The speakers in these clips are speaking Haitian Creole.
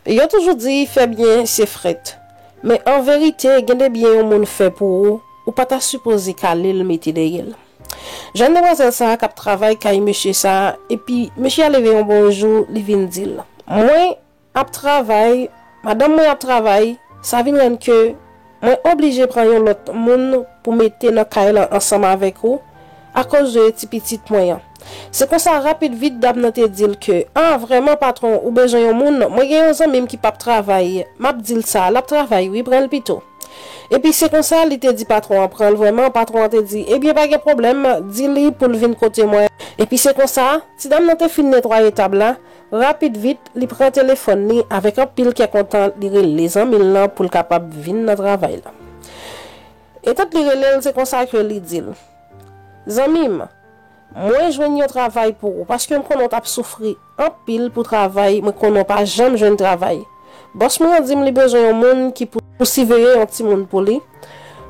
Yo toujou di fè byen se frèt. Men an verite gen de byen yon moun fè pou ou, ou pa ta sipoze kale l mete dèyè l. Jèn demwazèl sa a k ap travay kay mesye sa a epi mesye a leve yon bon jou li vin di l, Mwen ap travay, madanm mwen ap travay, sa vin rann ke Mwen oblije pran yon lòt moun pou mete nan kay lan ansanm avèk ou, akoz de ti pitit mwen an. Se konsa rapid vit dam nan te di l ke, A, vrèman patwon, ou bezwen yon moun, mwen gen yon zanmi m ki p ap travay, m ap di l sa, l ap travay wi, pran l pito. Epi se konsa li te di patwon an pran l vrèman, patwon an te di, Ebyen pa gen pwoblèm, di li pou l vin kote mwen. Epi se konsa, ti dam nan te fin netwaye tab la, Rapid vit, li pran telefòn li, avèk anpil kè kontan li rele zanmi l lan pou l kapab vin nan travay la. Etant li rele l, se konsa ke li di l, Zanmi m, mwen jwenn yon travay pou ou, paske m konnen w t ap soufri anpil pou travay, mwen konnen w pa janm jwenn travay. Bòs mwen an di m li bezwen yon moun ki pou siveye yon timoun pou li,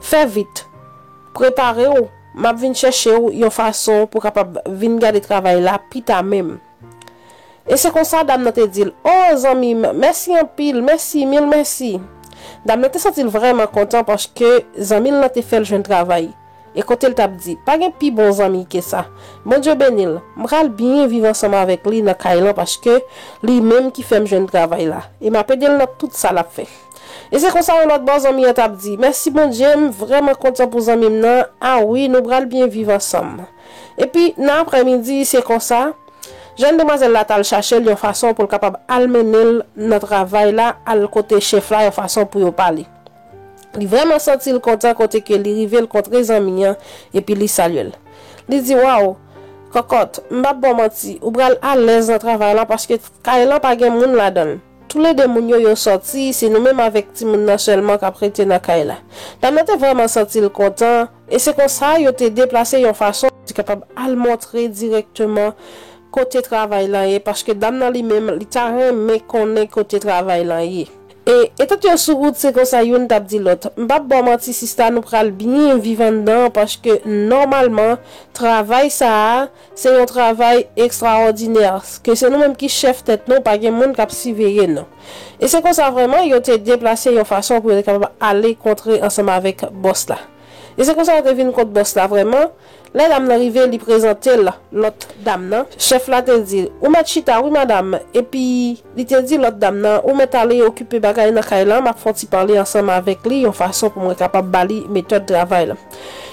fè vit, prepare w, m ap vin chèche w yon fason pou w kapab vin gade travay la pita menm. E se konsa dam nan te di l, O, zanmi m, mèsi anpil, mèsi, mil mèsi. Dam nan te santi l vrèman kontan paske zanmi l lan te fè l jwenn travay. E kote l t ap di, Pa gen pi bon zanmi ke sa. Bondye beni l, m pral byen viv ansanm avèk li nan kay lan paske li menm ki fè m jwenn travay la, e m ap ede l nan tout sa l ap fè. E se konsa yon lòt bò zanmi an t ap di, Mèsi Bondye, m vrèman kontan pou zanmi m nan, a wi, nou pral byen viv ansanm. Epi, nan aprèmidi, se konsa, jèn demwazèl la t al chache l yon fason pou l kapab al mennen l nan travay la, al kote chèf la yon fason pou yo pale. Li vrèman santi l kontan kote ke li rive l kontre zanmi an epi li salye l. Li di, Waw! Kòkòt, m p ap ba w manti, ou pral alèz nan travay lan paske kay lan pa gen moun ladan l. Toulede moun yo yo sòti, se nou menm avèk timoun nan sèlman k ap rete nan kay la. Dam nan te vrèman santi l kontan, e se konsa yo te deplase yon fason, li kapab al montre dirèkteman kote travay lan ye paske dam nan li menm li ta renmen konnen kote travay lan ye. E etant yo sou wout se konsa youn t ap di lòt, M p ap ba w manti sista nou pral byen viv anndan an paske nòmalman travay sa a, Se yon travay ekstraòdinè, ke se nou menm ki chèf tèt nou, pa gen moun k ap siveye nou. E se konsa vrèman yo te deplase yon fason pou yo te kapab ale kontre ansanm avèk bòs la. E se konsa yo te vin kot bòs la vrèman, lè dam nan rive li prezante l lòt dam nan, chèf la te di l, ou mèt chita wi madam, epi. Li te di lòt dam nan, Ou mèt ale okipe bagay nan kay la, m ap fè yon ti pale ansanm avèk li yon fason pou mwen kapab ba li metòd travay la.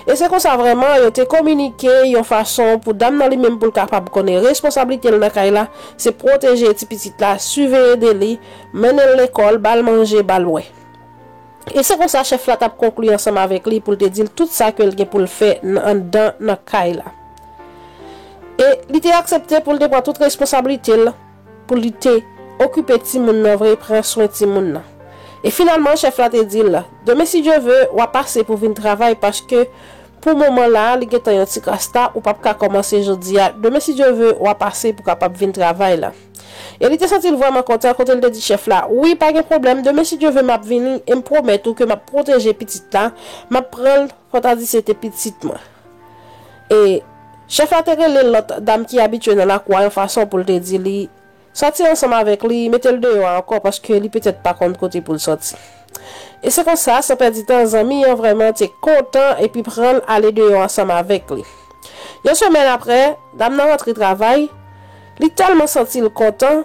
E se konsa vrèman, yo te kominike yon fason pou dam nan li menm pou l kapab konnen responsablite l nan kay la se pwoteje ti pitit la, siveye de li, mennen l lekòl, ba l manje, ba l bwè. E se konsa chèf la t ap konkli ansanm avèk li pou l te di l tout sa ke l gen pou l fè nan anndan nan kay la. E li te aksepte pou l te pran tout responsablite l. pou li te okipe timoun nan vre, pran swen timoun nan. E finalman chèf la te di l, Demen si Dye ve, w a pase pou vin travay paske pou moman la a li gentan yon ti kras ta, ou p ap ka kòmanse jodi a, demen si Dye ve, w a pase pou kapab vin travay la. E li te santi l vrèman kontan kote l te di chèf la, Wi, pa gen pwoblèm, demen si Dye ve m ap vini e m pwomèt ou ke m ap pwoteje pitit la, m ap pran l. Fò w ta di se te pitit mwen. E, chèf la te rele lòt dam ki abitye nan lakou a yon fason pou l te di li, Sòti ansanm avèk li, mete l deyò a ankò, paske li petèt pa konn kote pou l sòti. E se konsa, san pèdi tan, zanmi an vrèman te kontan epi pran l ale deyò ansanm avèk li. Yon semèn apre, dam nan rantre travay, li tèlman santi l kontan,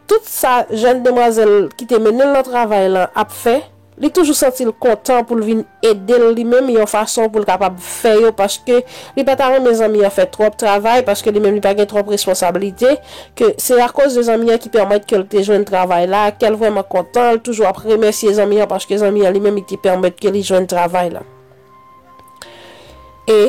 Tout sa jèn demwazèl ki te mennen l nan travay lan ap fè, li toujou santi l kontan pou l vin ede l li menm yon fason pou l kapab fè yo paske li pa ta renmen zanmi an fè twòp travay paske li menm li pa gen twòp responsablite ke se akoz de zanmi an ki pèmèt ke l te jwenn travay la ke l vrèman kontan l toujou ap remèsye zanmi an paske zanmi an li menm li te pèmèt ke li jwenn travay lan. E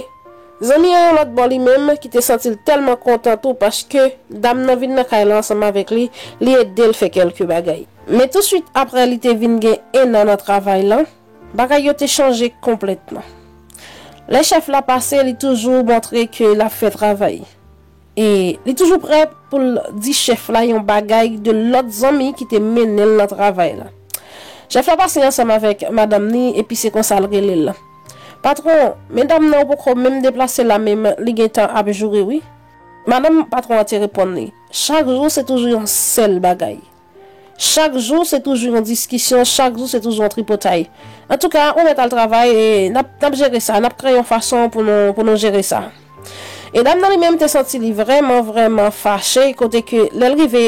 Zanmi an yon lòt bò li menm ki te santi l tèlman kontan tou paske dam nan vin nan kay la ansanm avèk li, li ede l fè kèlke bagay. Men tousuit aprè li te vin gen ennan nan travay lan, bagay yo te chanje konplètman. Lè chèf la pase li toujou montre ke l ap fè travay. E li toujou prè pou l di chèf la yon bagay de lòt zanmi ki te mennen l nan travay la. Chèf la pase ansanm avèk madanm ni epi se konsa l rele l. Patwon, medam nan yo poko menm deplase la menm li gen tan ap joure wi. Madanm patwon an te reponn li, Chak jou se toujou yon sèl bagay. Chak jou se toujou yon diskisyon, chak jou se toujou yon tripotay. Antouka, ou mèt al travay e n ap n ap jere sa, n ap kreye yon fason pou nou pou nou jere sa. E dam nan li menm te santi li vrèman vrèman fache kote ke lè l rive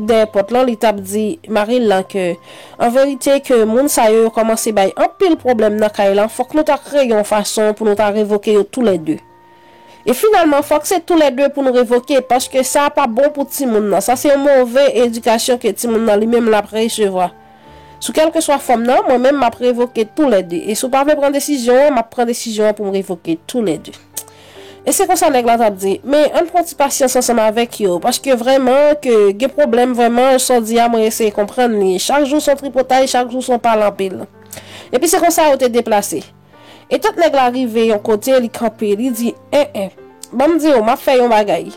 dèyè pòt lan li t ap di mari l lan ke an verite ke moun sa yo yo kòmanse bay anpil pwoblèm nan kay lan fòk nou ta kreye yon fason pou nou ta revoke yo tou lè de. E finalman fòk se tou lè 2 pou nou revoke paske sa a pa bon pou timoun nan, sa se yon move edikasyon ke timoun nan li menm l ap resevwa. Sou kèlkeswa fòm nan, mwen menm m ap revoke tou lè 2 e si w pa vle pran desizyon an, m ap pran desizyon an pou m revoke tou lè 2. E se konsa nèg la t ap di, men ann pran ti pasyans ansanm avèk yo paske vrèman ke gen pwoblèm vrèman, sa w di a mwen eseye konprann li, chak jou s on tripotay, chak jou s on pale anpil. Epi se konsa yo te deplase. Etant nèg la rive yon kote, li kanpe, li di, En en, ban m di w, m ap fè yon bagay.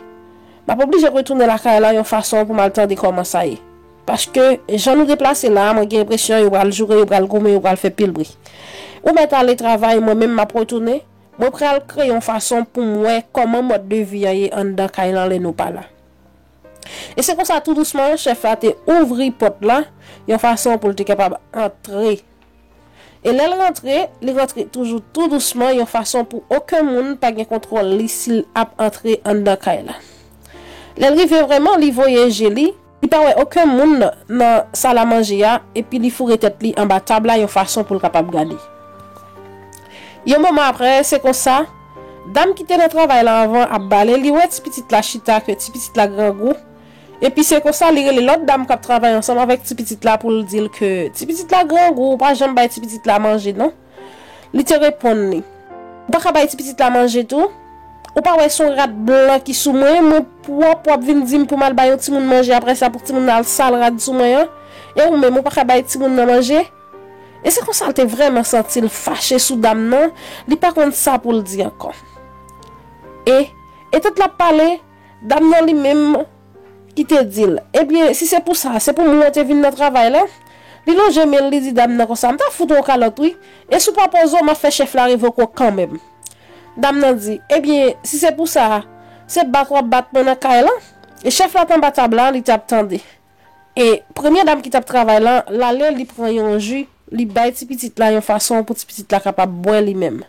M ap oblije retounen lakay la yon fason pou m al tande kòman sa ye. Paske, jan nou deplase la a, mwen gen enpresyon yo pral joure, yo pral goumen, yo pral fè pil bri. Ou mèt ale travay, mwen menm m ap retounen, mwen pral kreye yon fason pou m wè kòman mòd de vi an ye anndan kay lan lè nou pa la. E se konsa tou dousman chèf la te ouvri pòt la yon fason pou l te kapab antre. E lè l rantre, li rantre toujou tou dousman yon fason pou oken moun pa gen kontwòl li si l ap antre anndan kay la. Lè l rive vrèman, li voye je li, li pa wè oken moun nan salamanje a epi li foure tèt li anba tab la yon fason pou l kapab gade. Yon moman apre, se konsa. Dam ki te nan travay la anvan ap bale, li wè ti pitit la chita ke ti pitit la grangou, epi se konsa li rele lòt dam kap travay ansanm avèk ti pitit la pou l di l ke ti pitit la grangou ou pa janm bay ti pitit la manje non. Li te reponn li. Ou pa ka bay ti pitit la manje tou? Ou pa wè son rad blan ki sou mwen, mwen pwòp wap vin di m pou m al bay yon timoun manje aprè sa pou timoun nan al sal rad sou mwen an? E ou menm ou pa ka bay timoun nan manje? E se konsa l te vrèman santi l fache sou dam nan, li pa konn sa pou l di ankò. E, etan l ap pale, dam nan li menm ki te di l, Ebyen, si se pou sa, se pou mwen te vin nan travay la? Li lonje men l, li di dam nan konsa, M ta fout ou yon kalòt wi, e si w pa poze w, m ap fè chèf la revoke w kanmenm. Dam nan di, Ebyen, si se pou sa, se bat w ap bat mwen nan kay lan? E chèf la t anba tab la, li t ap tande. E premye dam ki t ap travay lan, l ale li pran yon ji, li bay ti pitit la yon fason pou ti pitit la kapab bwè li menm.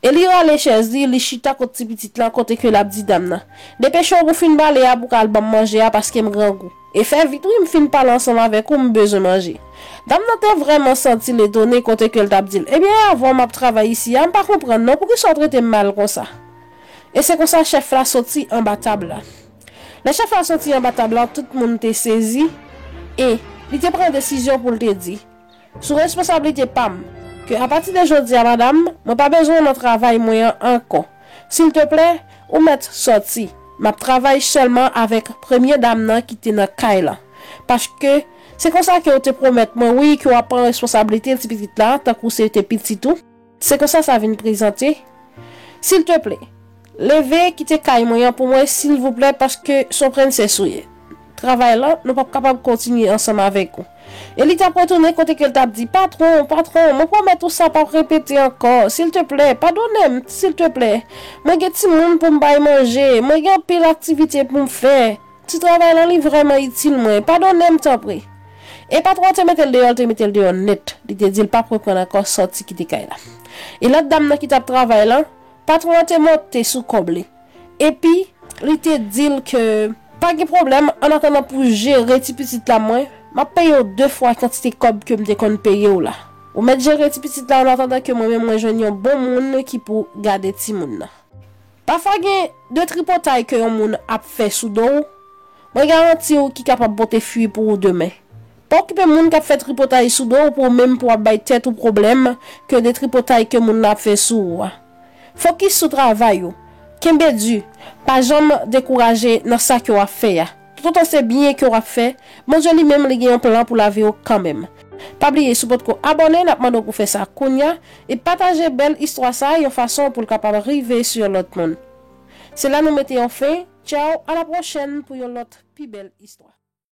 E li rale chèz li, li chita kot ti pitit lan kote ke l ap di dam nan, Depeche w pou w fin bale a pou w ka al ban m manje a paske m grangou. E fè vit wi, m fin pale ansanm avèk ou, m bezwen manje. Dam nan te vrèman santi l etone kote ke l t ap di l, Ebyen e avan w m ap travay isi a, m pa konprann non, poukisa w trete m mal konsa? E se konsa chèf la soti anba tab la. Lè chèf la soti anba tab la, tout moun te sezi, e, li te pran desizyon pou l te di, Sou responsablite pa m, ke apati de jodi a, madam, mwen pa bezwen w nan travay mwen an ankò. Silteplè, ou mèt soti. M ap travay sèlman avèk premye dam nan ki te nan kay lan. Paske, se konsa ke ou te pwomèt mwen, wi, ke w ap pran responsablite tipitit la, tankou se te pitit ou. Se konsa sa vin prezante. Silteplè, leve kite kay mwen an pou mwen silvouplè paske son prensès ou ye. Travay lan, nou pap kapab kontinye ansanm avèk ou. E li tap retounen kote ke l tap di, Patwon, patwon, mwen pwomèt ou sa pap repete ankò. Silteplè, padone m, silteplè. Mwen gen timoun pou m bay manje. Mwen gen anpil aktivite pou m fè. Ti travay lan li vrèman itil mwen. Padonem tanpri. E patron an te metel deyò li te metel deyò nèt. Li te dil pap reprann ankò sòti kite kay la. E lòt dam nan ki tap travay lan, patron an te monte sou kòb li. Epi li te dil ke. Pa gen pwoblèm, an atandan pou jere ti pitit la mwen, map peyew 2 fwa kantite kòb kem te konn peyew la. Ou mèt jere ti pitit la an atandan ke mwen menm mwen jwenn yon bon moun ki pou gade timoun nan. Pafwa gen de tripotay ke yon moun ap fè sou do w, mwen garanti w ki kapab pote fwi pou ou demen. Pa okipe moun kap fè tripotay sou do w pou ou menm pou wap bay tèt ou pwoblèm ke de tripotay ke moun nan ap fè sou ou a. Fokis sou travay ou, kenbe di, pa janm dekouraje nan sa ke wap fè a. Tout otan se byen ke wap fè, Bondye li menm li gen yon plan pou lavi ou kanmenm. Pa bliye si w potko abòne nap mande w pou fè sa kounya e pataje bèl istwa sa yon fason pou l kapab rive sou yon lòt moun. Se la nou mete yon fen, tchaw a la pwochèn pou yon lòt pi bèl istwa.